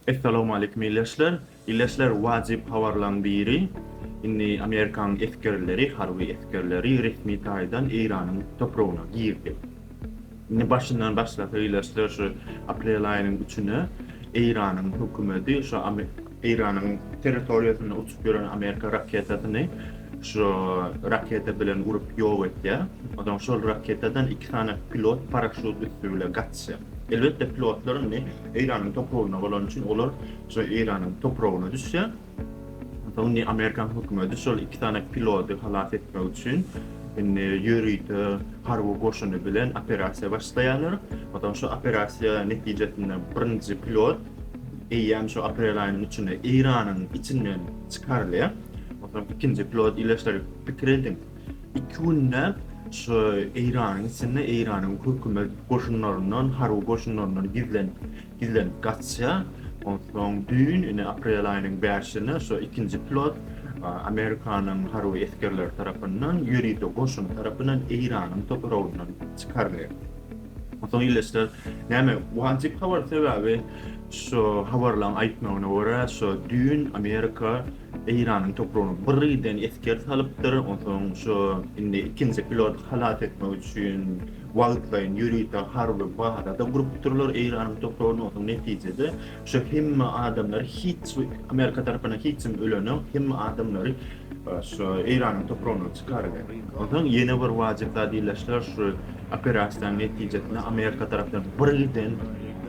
Essalawmaleýkim ildeşler. Ildeşler wajyp habarlaň biri indi Amerikaň esgerleri, harby esgerleri resmi taýdan Eýranyň topragyna girdi. Indi başyndan başlasak ildeşler şu aprel aýynyň üçüne Eýranyň hökümeti şu Eýranyň territoriýasynda uçup ýören Amerika raketasyny şu raketa bilen urup ýok etýär. Onsoň şol raketadan iki sany pilot paraşut üsti bile gaçýar. Russiýa. Elbetde pilotlar indi Eýranyň topragyna bolany üçin olar şo Eýranyň topragyna düşýär. Onsoň indi Amerikan hökümeti şol iki sany pilody halas etmek üçin indi ýörite harby goşuny bilen operasiýa başlaýarlar. Onsoň şo operasiýa netijesinde birinji pilot eýýäm şo aprel aýynyň üçünde Eýranyň içinden çykarylýar. Onsoň ikinji pilot ile şol pikir ediň. Iki günläp şu Eýranyň içinde Eýranyň hökümet goşunlaryndan, harby goşunlaryndan gizlenip, gizlenip gaçýar. Onsoň düýn, ine, aprel aýynyň bäşinde şu ikinji pilot Amerikanyň harby esgerleri tarapyndan, ýörite goşuny tarapyndan Eýranyň topragyndan çykarylýar. Onsoň ildeşler, näme, wajyp habar, sebäbi şu habarlaryň aýtmagyna görä, şu düýn Amerika, Eýranyň topragyna birden esger salypdyr. Onsoň şu indi ikinji piloty halas etmek üçin wagtlaýyn ýörite harby baza-da gurupdyrlar Eýranyň topragynda. Onsoň netijede şu hemme adamlar hiç Amerika tarapyndan hiç kim ölenok. Hemme adamlary şu Eýranyň topragyndan çykaryber. Onsoň ýene bir wajyp zat iýleşdiler. Şu operasiýanyň netijesinde Amerika tarapyndan birden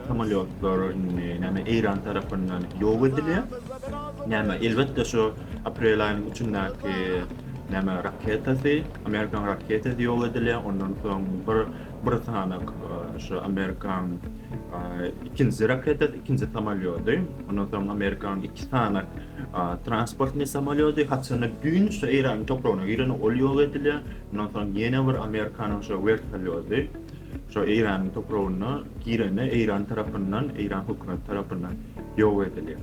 samolýotlar indi näme Eýran tarapyndan ýok edilýär. Näme, elbetde şu aprel aýynyň üçündäki näme raketasy, amerikan raketasy ýok edilýär, ondan soň bir bir sanak şu amerikan ikinji raketasy, ikinji samolýody, ondan soň amerikan iki sanak transportnyý samolýody, haçanda düýn şu Eýranyň topragyna giren ol ýok edilýär, ondan soň ýene bir amerikanyň şu wertolýody şu Eýranyň topragyna gireni Eýran tarapyndan, Eýran hökümeti tarapyndan ýok edilýär.